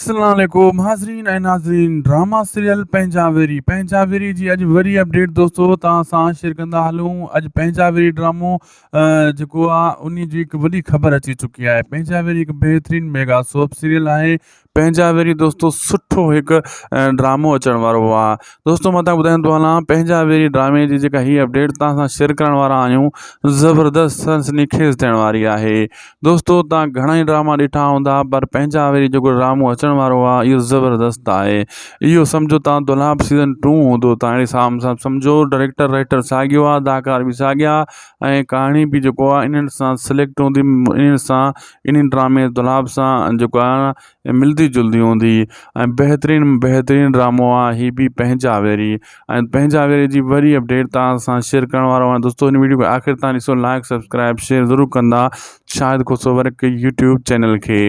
اسلام عليڪم حاضرين ۽ ناظرين ڊراما سيريل پنهنجا ويري پنهنجا ويري جي اڄ وري اپڊيٽ دوستو توهان سان شيئر ڪندا هلون اڄ پنهنجا ويري ڊرامو جيڪو آ ان جي هڪ وڏي خبر اچي چڪي آهي پنهنجا ويري هڪ بهترين ميگا سوپ سيريل آهي پنهنجا ويري دوستو سٺو هڪ ڊرامو اچڻ وارو هو آ دوستو مان تان ٻڌائيندو هلان پنهنجا ويري ڊرامي جي جيڪا هي اپڊيٽ توهان سان شيئر ڪرڻ وارا آهيون زبردست سنسني خيز ٿيڻ واري آهي دوستو تان گهڻا ئي ڊراما ڏٺا هوندا پر پنهنجا وري جيڪو ڊرامو اچڻ وارو آ اهو زبردست آهي اهو سمجهو تان دولاب سيزن ٽو هوندو تان اهڙي سام سام سمجهو ڊائريڪٽر رائيٽر ساڳيو آ اداڪار به ساڳيا ۽ ڪهاڻي به جيڪو آ انهن سان سليڪٽ هوندي انهن سان انهن ڊرامي دولاب سان جيڪو آ ۽ ملدي جلدي هوندي هئي ۽ بهترين بهترين ڊرامو آ هي بي پنهنجا ويري ۽ پنهنجا ويري جي وري اپڊيٽ تان سان شيئر ڪرڻ وارو آهيان دوستو هن ويڊيو کي آخر تان ڏسو لائق سبسڪرائب شيئر ضرور ڪندا Shahid Khoso work YouTube channel کي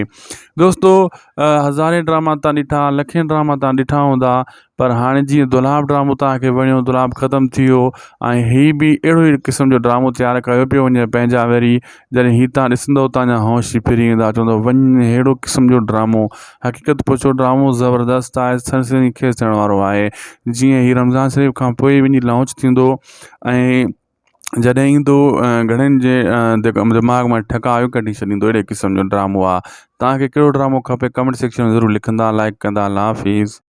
دوستو هزارين ڊراما تان ڏٺا لکين ڊراما تان ڏٺا هوندا پر هاڻي جيئن دولاب ڊرامو توهان کي وڻيو دولاب ختم ٿي ويو ۽ هي به اهڙو ئي قسم جو ڊرامو تيار ڪيو پيو وڃي پنهنجا وري جڏهن هي تان ڏسندو تانجا هوش ئي ڦري ويندا چوندو وڃ ههڙو قسم جو ڊرامو حقيقت پچو ڊرامو زبردست آهي سر سنهي کيس ٿيڻ وارو آهي جيئن هي رمضان شريف کان پوء وڃي لانچ ٿيندو ۽ جڏهن ايندو گهڻن جي دماغ مان ٺڪا آيو ڪڍي ڇڏيندو اهڙي قسم جو ڊرامو آهي توهان کي ڪهڙو ڊرامو کپي ڪمينٽ سيڪشن ۾ ضرور لکندا لائڪ ڪندا الله حافظ